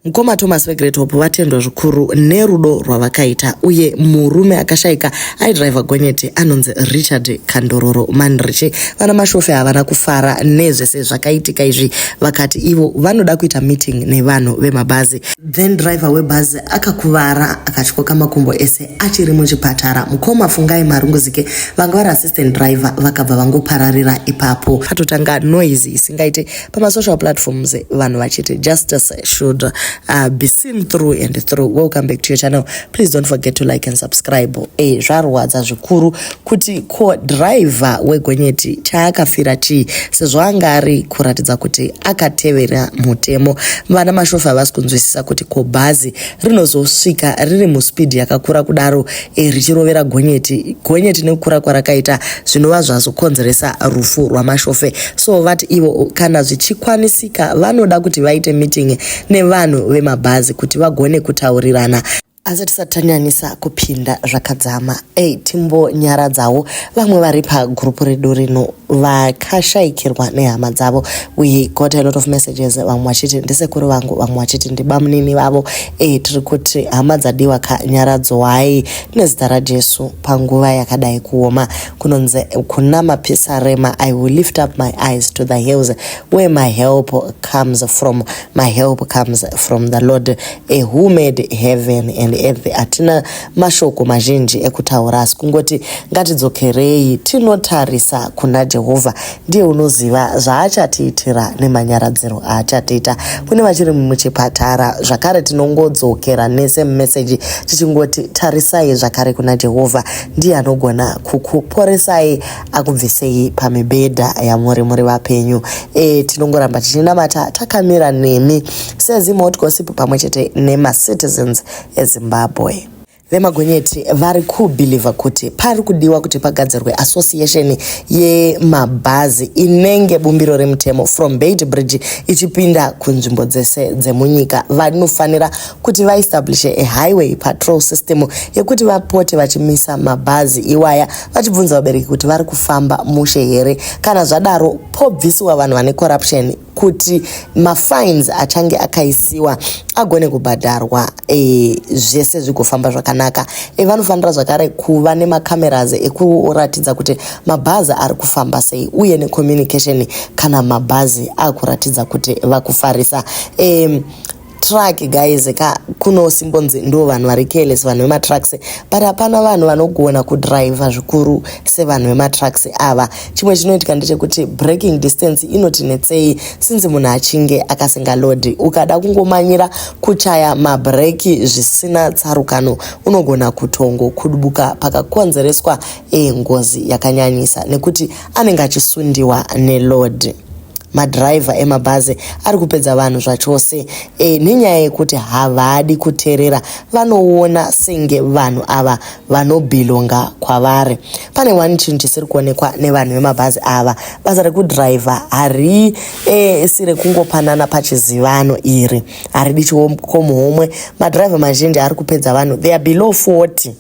Mkoma Thomas weGreat Hope vatendwa zvikuru nerudo rwavakaita uye murume akashaika aidriver gonyeti anonzi Richard Kandororo Manriche. Vana Mashofe havana kufara nezvese zvakaitika izvi vakati ivo vanoda kuita meeting nevanhu vemabhazi. Then driver webhazi akakuvara akatyoka makumbo ese achiri muchipatara. Mkoma Fungai Marunguzike vanga vari assistant driver vakabva vangopararira ipapo. Patotanga noise isingaite pamasocial platforms vanhu vachiti justice should uh, be seen through and through welcome back to your channel please don't forget to like and subscribe e eh, zvarwadza zvikuru kuti ko driver wegonyeti chaakafira chii sezvo anga ari kuratidza kuti akatevera mutemo vana mashofa havasi kunzwisisa kuti ko bhazi rinozosvika riri muspeed yakakura kudaro eh, richirovera gonyeti gonyeti nekukura kwarakaita zvinova zvazokonzeresa rufu rwamashofe so vati ivo kana zvichikwanisika vanoda kuti vaite meeting nevanhu vemabhazi kuti vagone kutaurirana asi tisati tanyanisa kupinda zvakadzama ei timbonyaradzawo Vamwe vari pagroup redu rino vakashaikirwa nehama dzavo. We got a lot of messages vamwe vachiti ndisekuru vangu vamwe vachiti ndibamunini vavo. Eh tiri kuti hama dzadiwa ka nyaradzwai nezita raJesu panguva yakadai kuoma. Kunonzi kuna mapisarema I will lift up my eyes to the hills where my help comes from. My help comes from the Lord eh, who made heaven and earth. Atina mashoko mazhinji ekutaura asi kungoti ngatidzokerei tinotarisa kuna jehovha ndiye unoziva zvaachatiitira nemanyaradziro aachatiita kune vachiri muchipatara zvakare tinongodzokera nese mumeseji tichingoti tarisai zvakare kuna jehovha ndiye anogona kukuporesai akubvisei pamibhedha yamuri muri vapenyu e, tinongoramba tichinamata takamira nemi sezimotgosip pamwe chete nemacitizens eZimbabwe. Vemagonyeti vari kubhilivha kuti pari kudiwa kuti pagadzirwe association yemabhazi inenge bumbiro remutemo from Beit Bridge ichipinda kunzvimbo dzese dzemunyika. Vanofanira kuti vaestablishe a highway patrol system yekuti vapote vachimisa mabhazi iwaya vachibvunza vabereki kuti vari kufamba mushe here. Kana zvadaro pobvisiwa vanhu vane corruption kuti mafines achange akaisiwa agone kubhadharwa e, zvese zvigofamba zvakanaka e, vanofanira zvakare kuva nemacameras ekuratidza kuti mabhazi ari kufamba sei uye necommunication kana mabhazi akuratidza kuti vakufarisa e, truck guys ka kuno simbonzi ndo vanhu vari careless vanhu vematrucks but hapana vanhu vanogona kudriver zvikuru sevanhu vematrucks ava chimwe chinoitika ndechekuti breaking distance inotinetsei sinzi munhu achinge akasingalodi ukada kungomanyira kuchaya mabreki zvisina tsarukano unogona kutongo kudubuka pakakonzereswa engozi eh, yakanyanyisa nekuti anenge achisundiwa nelod madhiraivha emabhazi ari kupedza vanhu zvachose e, nenyaya yekuti havadi kuterera vanoona senge vanhu ava vanobhilonga kwavari pane one chinhu chisiri kuonekwa nevanhu vemabhazi ava basa rekudhiraivha hari e, si rekungopanana pachizivano iri haridi chikomuhomwe madhiraivha mazhinji ari kupedza vanhu they are below 40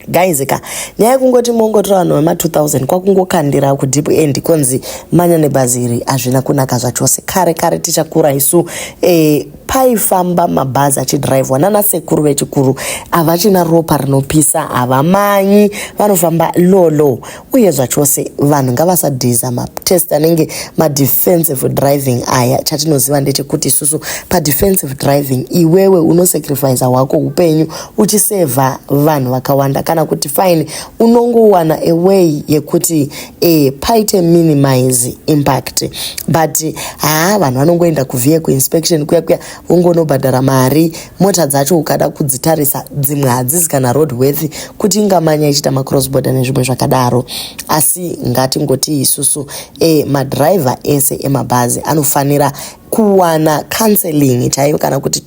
guys ka nyaya yekungoti mongotora vanhu vema 2000 kwakungokandira kudeep end konzi manya nebhazi iri hazvina kunaka zvachose kare kare tichakura isu eh, paifamba mabhazi achidhiraivhwa nana sekuru vechikuru havachina ropa rinopisa havamanyi vanofamba lolo uye zvachose vanhu ngavasadhiza matest anenge madefensive driving aya chatinoziva ndechekuti isusu padefensive driving iwewe unosacrifice hwako upenyu uchisevha vanhu vakawanda kana kuti fine unongowana away yekuti e, paite minimize impact but haa vanhu vanongoenda kuvhiye kuinspection kuya kuya ungonobhadhara mari mota dzacho ukada kudzitarisa dzimwe hadzizi kana road worth kuti ingamanya ichiita macross border nezvimwe zvakadaro asi ngatingoti isusu e, madriver ese emabhazi anofanira kuwana counseling chaiyo kana kuti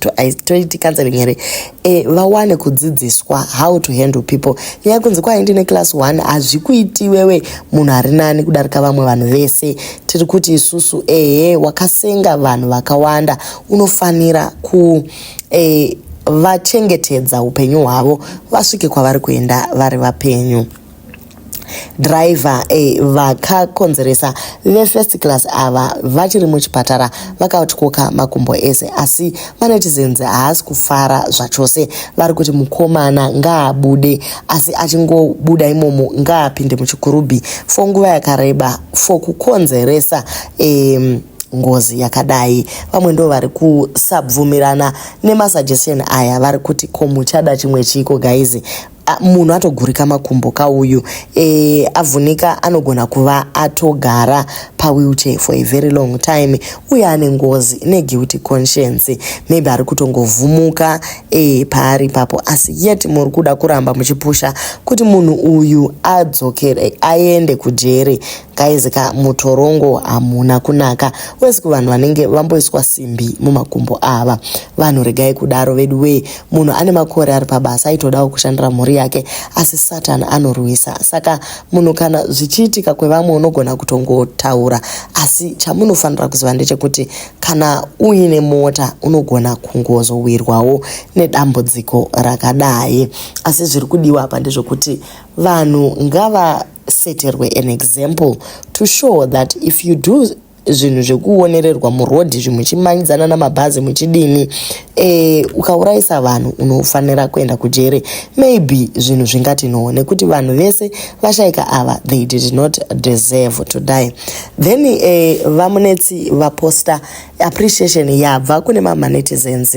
toiti counseling here e, vawane kudzidziswa how to handle people nyaya kunzi kwai ndine class one hazvikuiti iwewe munhu ari nani kudarika vamwe vanhu vese tiri kuti isusu ehe wakasenga vanhu vakawanda unofanira ku e, vachengetedza upenyu hwavo vasvike kwavari kuenda vari vapenyu driver eh, vakakonzeresa vefirst class ava vachiri muchipatara vakatyoka makumbo ese asi manetizenzi haasi kufara zvachose vari kuti mukomana ngaabude asi achingobuda imomo ngaapinde muchikurubhi fo nguva yakareba fo kukonzeresa eh, ngozi yakadai vamwe ndo vari kusabvumirana nemasuggestion aya vari kuti ko muchada chimwe chiiko gaizi munhu atogurika makumbo ka uyu e, avhunika anogona kuva atogara pawheelchair for a very long time uye ane ngozi neguilty conscience maybe ari kutongovhumuka e, paari ipapo asi yet muri kuda kuramba muchipusha kuti munhu uyu adzokere aende kujeri Guys ka mutorongo hamuna kunaka wesi kuvanhu vanenge vamboiswa simbi mumakumbo ava vanhu regai kudaro vedu wee munhu ane makore ari pabasa aitodawo kushandira mhuri yake asi satan anorwisa saka munhu kana zvichiitika kwevamwe unogona kutongotaura asi chamunofanira kuziva ndechekuti kana uine mota unogona kungozowirwawo nedambudziko rakadai asi zviri kudiwa apa ndezvekuti vanhu ngava seterwe an example to show that if you do zvinhu zvekuonererwa murodhi muchimanyidzana namabhazi muchidini e, ukaurayisa vanhu unofanira kuenda kujere maybe zvinhu zvingati no nekuti vanhu vese vashaika ava they did not deserve to die then e, vamunetsi vaposta appreciation yabva kune mamanetizens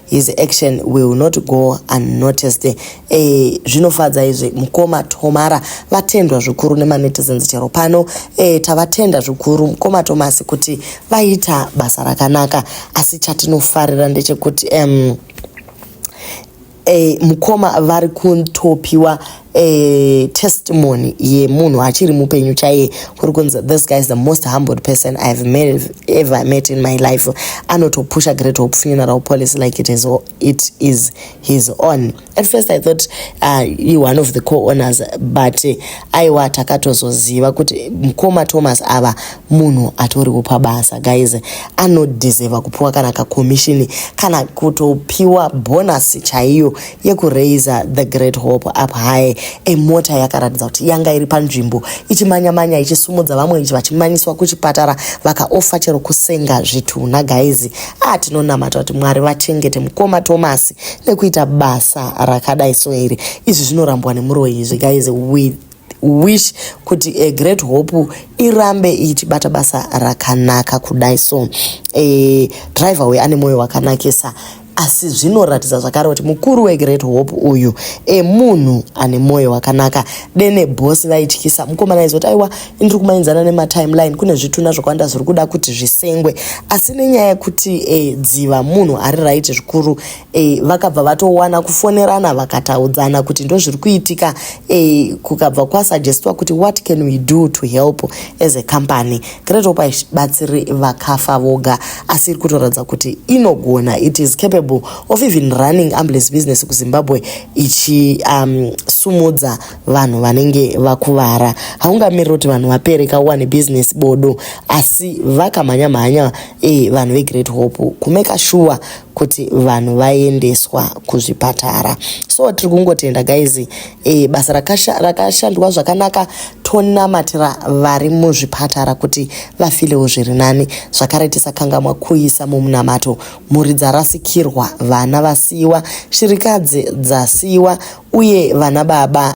his action will not go unnoticed e, eh, zvinofadza izvi mukoma tomara vatendwa zvikuru nemanetizens chero pano e, tavatenda zvikuru mukoma tomasi kuti vaita basa rakanaka asi chatinofarira ndechekuti um, e, mukoma vari kutopiwa eh, testimony yemunhu achiri mupenyu chaiye kuri kunzi this guy is the most humbled person i have met, ever met in my life anotopusha great hope funeral policy like it is, it is his own at first i thought uh, you one of the co-owners but eh, aiwa takatozoziva kuti mkoma thomas ava munhu atoriwo pabasa guys anodeserva kupiwa kana kakomishini kana kutopiwa bonus chaiyo yekuraiser the great hope up high emota yakaratidza kuti yanga iri panzvimbo ichimanyamanya ichisumudza vamwe ichi vachimanyiswa kuchipatara vakaofa chero kusenga zvitunha gaizi a ah, tinonamata kuti mwari vachengete mukoma tomasi nekuita basa rakadai so iri izvi zvinorambwa nemuroyi izvi gaizi with wish kuti a eh, great hope irambe ichibata basa rakanaka kudai so e, driver uyu ane mwoyo wakanakisa asi zvinoratidza zvakare kuti mukuru wegreat hope uyu emunhu ane mwoyo wakanaka dene bosi vaityisa mukomana aizoti aiwa ndiri kumainzana nematimeline kune zvituna zvakawanda zviri kuda kuti zvisengwe asi nenyaya yekuti e, dziva munhu ari right zvikuru e, vakabva vatowana kufonerana vakataudzana kuti ndozviri kuitika e, kukabva kwasuggestwa kuti what can we do to help as a company great hope haibatsiri vakafa voga asi iri kutoratidza kuti inogona it is capable of even running ambulance business kuzimbabwe ichisumudza um, vanhu vanenge vakuvara haungamiriri kuti vanhu vapere kauwane business bodo asi vakamhanya mhanya e, vanhu vegreat hope kumeka shuwa kuti vanhu vaendeswa kuzvipatara so tiri kungotenda guys e, basa rakashandwa zvakanaka tonamatira vari muzvipatara kuti vafilewo zviri nani zvakare tisakangamwa kuisa mumunamato mhuri dzarasikirwa vana vasiyiwa shirikadzi dzasiyiwa uye vana baba